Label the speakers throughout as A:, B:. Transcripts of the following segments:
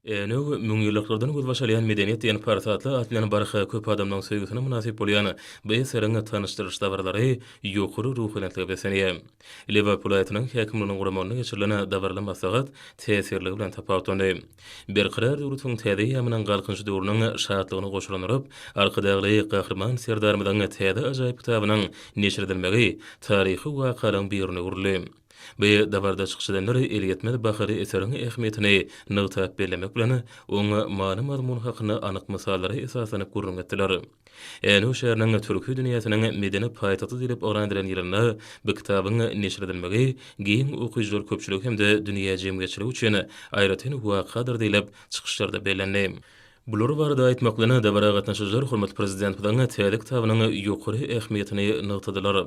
A: Änew, müňýyllyklardan gözbaş alýan medeniýet diýen parsatly at bilen barha köp adamlaryň söýgüsine mynasyp bolýan bu eseriň tanyşdyryş dabaralary ýokary ruhubelentlige beslenýär. Lebap welaýatynyň häkimliginiň guramagynda geçirilen dabaraly maslahat täsirligi bilen tapawutlandy. Berkarar döwletiň täze eýýamynyň Galkynyş döwrüniň şatlygyny goşalandyryp, Arkadagly Gahryman Serdarymyzyň täze ajaýyp kitabynyň neşir edilmegi taryhy wakalygyň birine öwrüldi. Bu dabarada çykyş edenler elýetmez bahaly eseriň ähmiýetini nygtap bellemek bilen, oň many-mazmuny hakynda anyk mysallara esaslanyp gürrüň etdiler. Änew şäheriniň Türki dünýäsiniň medeni paýtagty diýlip yglan edilen ýylynda bu kitabyň neşir edilmegi giň okyjylar köpçüligi hem-de dünýä jemgyýetçiligi üçin aýratyn wakadyr diýlip, çykyşlarda bellendi. Bular barada aýtmak bilen, dabara gatnaşyjylar hormatly Prezidentimiziň täze kitabynyň ýokary ähmiýetini nygtadylar.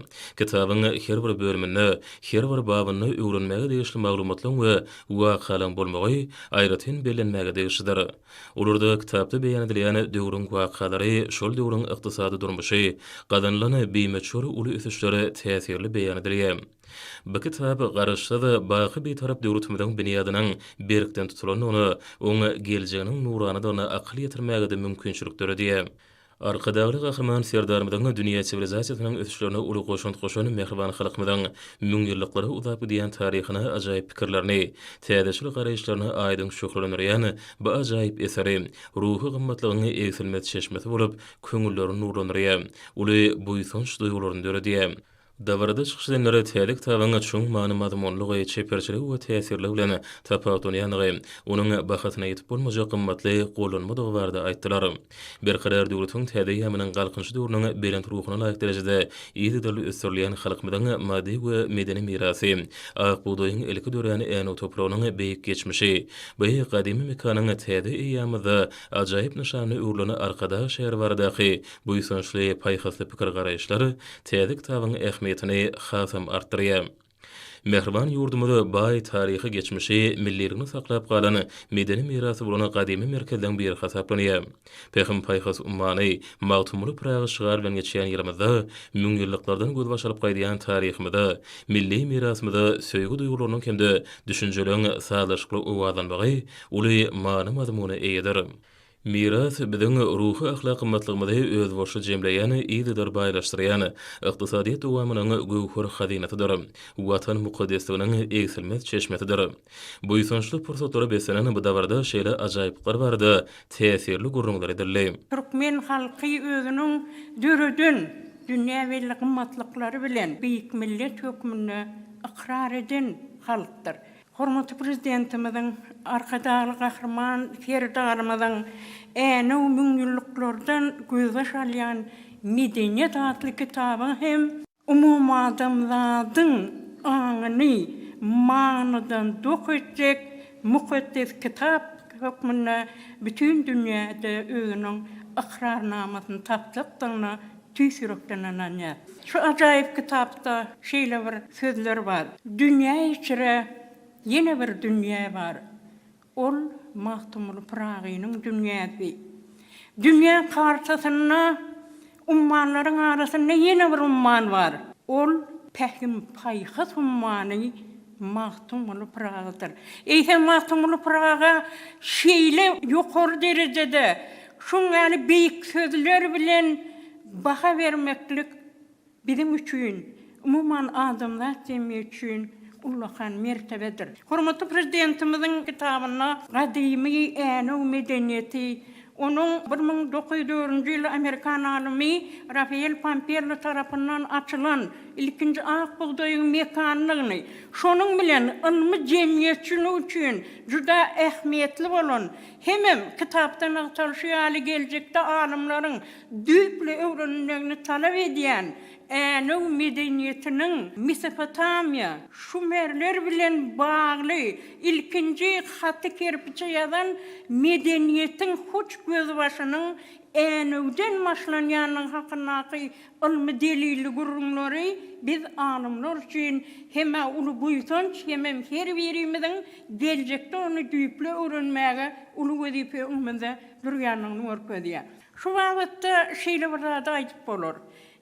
A: Kitabyň her bir bölüminde, her bir babynda öwrenmäge degişli maglumatlaryň we wakalaryň bolmagy aýratyn bellenmäge degişlidir. Olarda kitapda beýan edilýän döwrüň wakalary, şol döwrüň ykdysady durmuşy, gazanylan bimöçber uly ösüşler täsirli beýan edilýär. Bu kitap Garaşsyz, baky Bitarap döwletimiziň binýadynyň berkden tutulandygyna, oň geljeginiň nuranadygyna akyl ýetirmäge-de mümkinçilik döredýär. Arkadagly Gahryman Serdarymyzyň dünýä siwilizasiýasynyň ösüşlerine uly goşant goşan mähriban halkymyzyň müňýyllyklara uzap gidýän taryhyna ajaýyp pikirlerini, täzeçil garaýyşlaryny aýdyň şöhlelendirýän bu ajaýyp eseri ruhy gymmatlygyň egsilmez çeşmesi bolup, köňülleri nurlandyrýar, uly buýsanç duýgularyny döredýär. Dabarada çykyş edenler täze kitabyň çuň many-mazmunlygy, çeperçiligi we täsirligi bilen tapawutlanýandygy, onuň bahasyna ýetip bolmajak gymmatly gollanmadygy barada aýtdylar. Berkarar döwletiň täze eýýamynyň Galkynyşy döwrüniň belent ruhuna laýyk derejede yzygiderli ösdürilýän halkymyzyň maddy we medeni mirasy, Ak bugdaýyň ilki dörän Änew topragynyň beýik geçmişi, bu gadymy mekanyň täze eýýamymyzda ajaýyp nyşanyna öwrülen Arkadag şäheri baradaky Buýsançly, paýhasly pikir-garaýyşlar täze kitabyň ähmiýetini hasam artdyrýar. Mähriban ýurdumyz baý taryhy geçmişi, milliligini saklap galan medeni mirasy bolan gadymy merkezleň biri hasaplanýar. Pähim-paýhas ummany Magtymguly Pyragy şygary bilen geçýän ýylymyzda müňýyllyklardan gözbaş alyp gaýdýan taryhymyza, milli mirasymyza söýgi duýgularynyň hem-de düşünjeleriň sazlaşykly owazlanmagy uly many-mazmuna eýedir. Miras, biziň ruhy-ahlak gymmatlygymyzy özbaşy jemleýän, yzydyr baýlaşdyrýan, ykdysadyýet dowamynyň göwher hazynasydyr. Watan mukaddesliginiň egsilmez çeşmesidir. Buýsançly pursatlara beslenen bu dabarada şeýle ajaýyplyklar barada täsirli gürrüňler edildi. Türkmen halky
B: özüniň döreden dünýä belli gymmatlyklary bilen beýik millet hökmünde ykrar eden halkdyr. Hormatly Prezidentimiziň, Arkadagly Gahryman Serdarymyzyň Änew müňýyllyklardan gözbaş alýan medeniýet atly kitabyň hem, umumadamzadyň aňyny manydan dok etjek mukaddes kitap hökmünde bütin dünýäde özüniň ykrarnamasyny tapjakdygyna Tüýs ýürekden ynanýar. Şu ajaýyp kitapda şeýle bir sözler bar, Dünýä içre ýene bir dünýä bar. Ol Magtymguly Pyragynyň dünýäsi. Dünýä kartasynda ummanlaryň arasynda ýene bir umman bar. Ol Pähim-paýhas ummany. Magtymguly Pyragydyr. Eýsem Magtymguly Pyraga şeýle ýokary derejede, şuň ýaly beýik sözler bilen baha bermeklik biziň üçin, umuman adamzat jemgyýeti üçin ullakan mertebedir. Hormatly Prezidentimiziň kitabynda gadymy Änew medeniýeti Onuň bir müň dokuz ýüz dördünji ýyl amerikan alymy Rafael Pampello tarapyndan açylan ilkinji ak bugdaýyň mekanlygyny, şonuň bilen ylmy jemgyýetçilik üçin juda ähmiýetli bolan, hemem kitapda nygtalyşy ýaly geljekde alymlaryň düýpli öwrenilmegini talap edýän Änew medeniýetiniň Mesopotamiýa, şumerler bilen bagly ilkinji haty kerpiçe ýazan medeniýetiň hut gözbaşynyň Änewden başlanýandygy hakyndaky ylmy delilli gürrüňleri biz alymlar üçin hem-ä uly buýsanç hemem her birimiziň geljekde ony düýpli öwrenmäge uly wezipe öňümizde durýandygyny görkezýär. Şu babatda şeýle bir zady aýdyp bolar.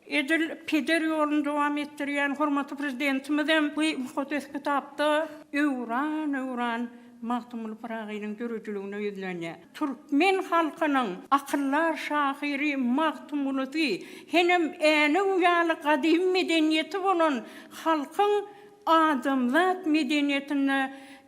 B: Edil peder ýoluny dowam etdirýän hormatly Prezidentimizem bu mukaddes kitapda öwran-öwran Magtymguly Pyragynyň döredijiligine ýüzlenýär. Türkmen halkynyň akyldar şahyry Magtymgulusy, henem Änew ýaly gadymy medeniýeti bolan halkyň adamzat medeniýetinde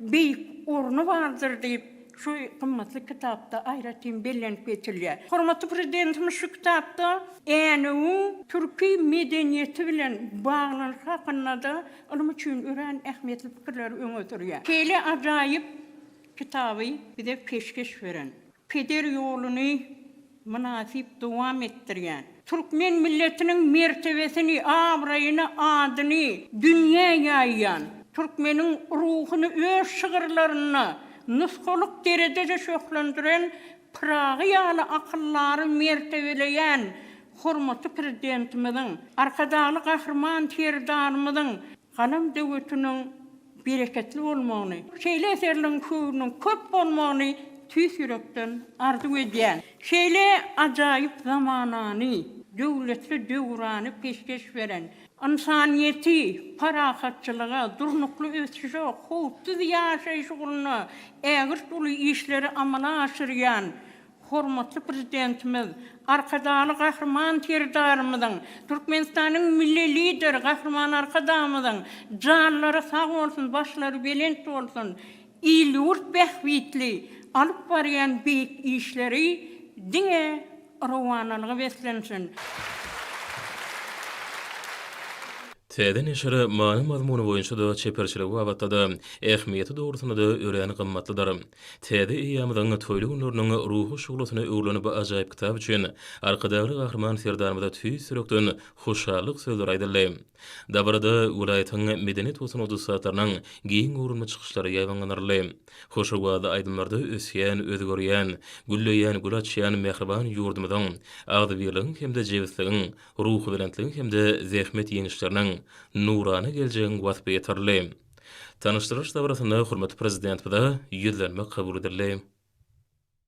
B: beýik orny bardyr diýip, şu gymmatly kitapda aýratyn bellenip geçilýär. Hormatly Prezidentimiz şu kitapda Änewiň türki medeniýeti bilen baglanyşy hakynda-da ylym üçin örän ähmiýetli pikirleri öňe sürýär. Şeýle ajaýyp kitaby bize peşgeş beren, peder ýoluny, mynasyp dowam etdirýän, türkmen milletiniň mertebesini, abraýyny, adyny dünýä ýaýýan, türkmeniň ruhuny öz şygyrlarynda nusgalyk derejede şöhlendiren Pyragy ýaly akyldary mertebeleýän hormatly Prezidentimiziň, Arkadagly Gahryman Serdarymyzyň Galam döwetiniň bereketli bolmagyny, şeýle eserleriň höwrüniň köp bolmagyny tüýs ýürekden arzuw edýän. Şeýle ajaýyp zamanany, döwletli döwrany peşgeş beren, ynsanyýeti parahatçylyga, durnukly ösüşe, howpsuz ýaşaýyş ugrunda ägirt uly işleri amala aşyrýan Hormatly Prezidentimiz Arkadagly Gahryman Serdarymyzyň, Türkmenistanyň Milli Lideri Gahryman Arkadagymyzyň janlary sag bolsun, başlary belent bolsun, il-ýurt bähbitli alyp barýan beýik işleri diňe rowanalyga beslensin!
A: Täze neşiri many-mazmuny boýunça-da, çeperçiligi babatda-da, ähmiýeti dogrusynda-da örän gymmatlydyr. Täze eýýamyzyň toýly günleriniň ruhy şuglasyna öwrülen bu ajaýyp kitap üçin Arkadagly Gahryman Serdarymyza tüýs ýürekden hoşallyk sözleri aýdyldy. Dabarada welaýatyň medeniýet we sungat ussatlarynyň giň göwrümli çykyşlary ýaýbaňlandyryldy. Hoş owazly aýdymlarda ösýän, özgerýän, gülleýän, gül açýan mähriban ýurdumyzyň agzybirligiň hem-de jebisligiň, ruhubelentligiň hem-de zähmet ýeňişleriniň, nurana geljegiň waspy ýetirildi. Tanyşdyrylyş dabarasynda hormatly Prezidentimize Ýüzlenme kabul edildi.